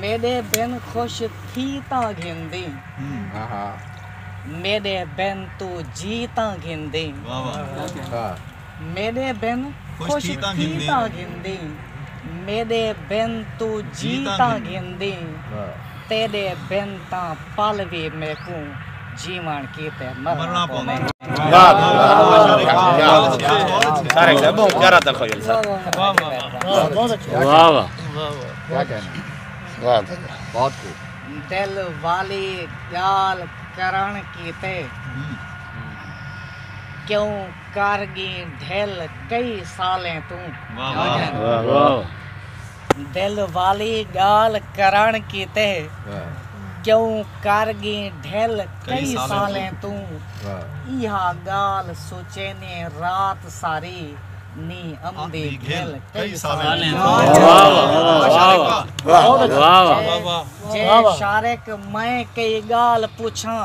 میݙے بن خوش تھی تاں گھندیں میݙے بن توں جی تاں گھندیں میݙے بن خوش تھی تاں گھندیں میݙے بن توں جی تاں گھندیں تیݙے بن تاں پل وی میکوں جیوݨ کیتے مرݨا پوندے۔ دل والی ڳال کرݨ کیتے کیوں کر ڳئیں ڈھل کئی سالیں توں۔ دل والی ڳالھ کرݨ کیتے کیوں کر ڳیں ڈھل کئی سالیں توں ایہا ڳالھ سوچیندیں رات ساری نی امدی ڈھل کئی سالیں توں جے شارق میں کئی ڳالھ پچھاں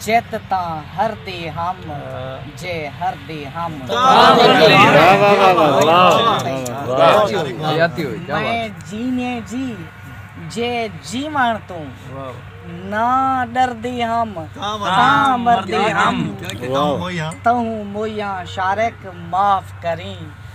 جت تاں ہر دے ہم جے ہر دے ہم میں جینے جی جے جیون تو نہ ڈر دے ہم تاں مر دے ہم تہوں مویاں شارق معاف کریں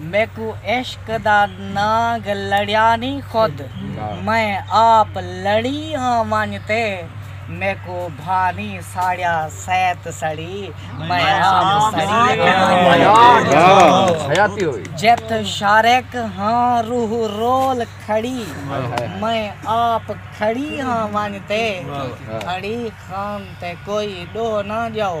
میکوں عشق دا نانگ لڑیا نی خود میں آپ لڑی ہاں ونج تے میکوں بھا نی ساڑیا سیت سڑی میں آپ سڑی ہاں جت شارک ہاں روح رول کھڑی میں آپ کھڑی ہاں ونج تے کھڑی خان تے کوئی ڈو نہ جاؤ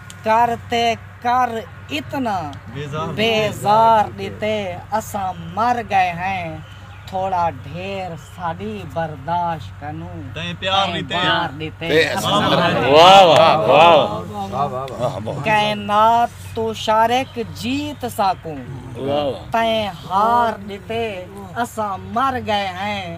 کر تے کر اتنا بیزار ݙتے اساں مر ڳئے ہیں تھوڑا ڈھیر ساݙی برداشت کنو تئیں پیار ݙتے اساں مر ڳئے ہیں واہ واہ واہ واہ کائنات توں شارق جیت ساکوں تئیں ہار ݙتے اساں مر ڳئے ہیں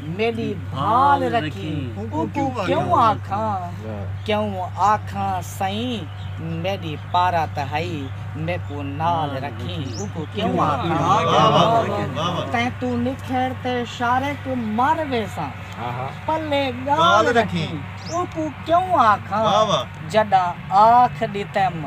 میݙی بھال رکھیں اوکوں کیوں آکھاں کیوں آکھاں سئیں میݙی پارا تہائی میکوں نال رکھیں اوکوں کیوں آکھاں تیں توں نکھڑ تے شارق مر ویساں پلے ڳال رکھیں اوکوں کیوں آکھاں جݙاں آکھ ݙتیم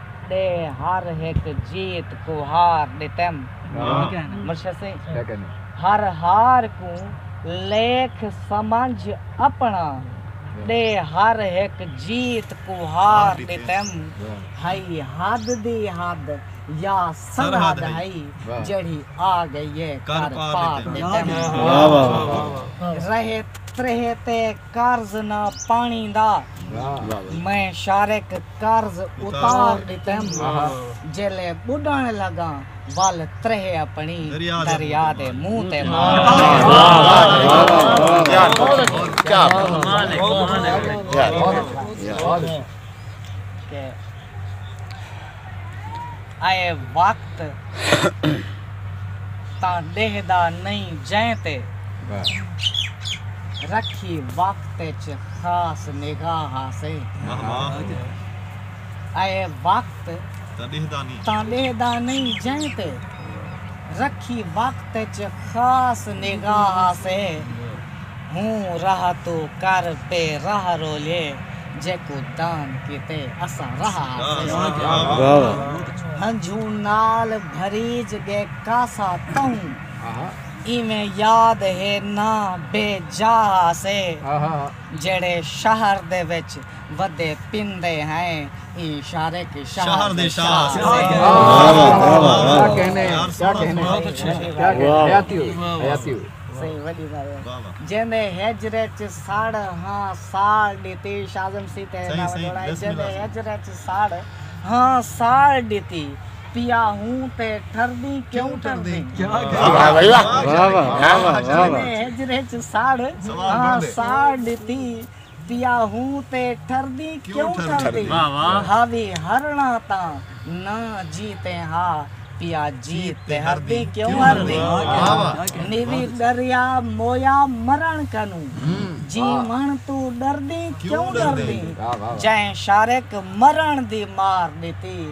دے ہر ہک جیت کوں ہار ݙتم۔ ہر ہار کوں لیکھ سمجھ اپݨا دے ہر ہک جیت کوں ہار ݙتم۔ ہئی حد دی حد یا سرحد ہئی جیڑھی آ ڳئی اے کر پار ݙتم۔ رہے تریہہ تے قرض نہ پاݨی دا میں شارق۔ قرض اتار ݙتم جیلے ٻݙݨ لڳاں ول تریہہ اپݨی دریا دے منہ تے مار اے وقت تاں ڈیہدا نئیں جئیں تے رکھی وقت اچ خاص نگاہ آسے اے وقت تاں ڈیہدا نئیں جئیں تے رکھی وقت اچ خاص نگاہ آسے۔ ہوں راہ توں کر پے راہ رولے جیکوں دان کیتے اساں راہ آسے ہنجھوں نال بھریج ڳے کاسا تہوں ایویں یاد ہے نہ بے جا آسے جیڑھے شہر دے وچ ودے پیندے ہیں ایں شارق شہر دے شاہ آسے سئیں ولی بھائی جیندے ہجر اچ ساڑ ہاں ساڑ ڈتی شازم سی تے نہ وڈوڑا جیندے ہجر اچ ساڑ ہاں ساڑ ڈتی پیا ہوں تے ٹھردی کیوں ٹھردی جیندے ہجر اچ ساڑ ہاں ساڑ ڈتی پیا ہوں تے ٹھردی کیوں ٹھردی ہاوی ہرنا تاں نہ جی تے ہا پیا جی تے ہردی کیوں ہردی نیوی ڈریا مویا مرن کنو جی من تو ڈردی کیوں ڈردی جائیں شارک مرن دی مار ڈتی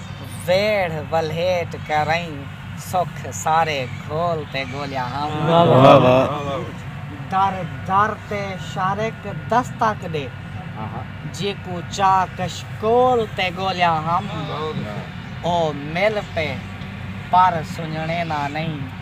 ویڑھ ولھیٹ کرئیں سکھ سارے گھول تے گولیا ہاں۔ در در تے شارق دستک ݙے جیکوں چا کش کول تے گولیا ہاں۔ او مل پئے پر سنڄݨینا نئیں۔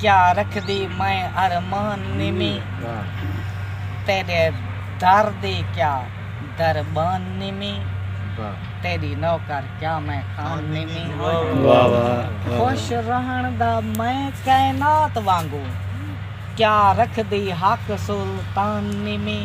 کیا رکھدی میں ارمان نمی تیڈے در دی کیا دربان نمی تیڈی نوکر کیا میں خان نمی خوش رہن دا میں کائنات وانگوں کیا رکھدی حق سلطان نمی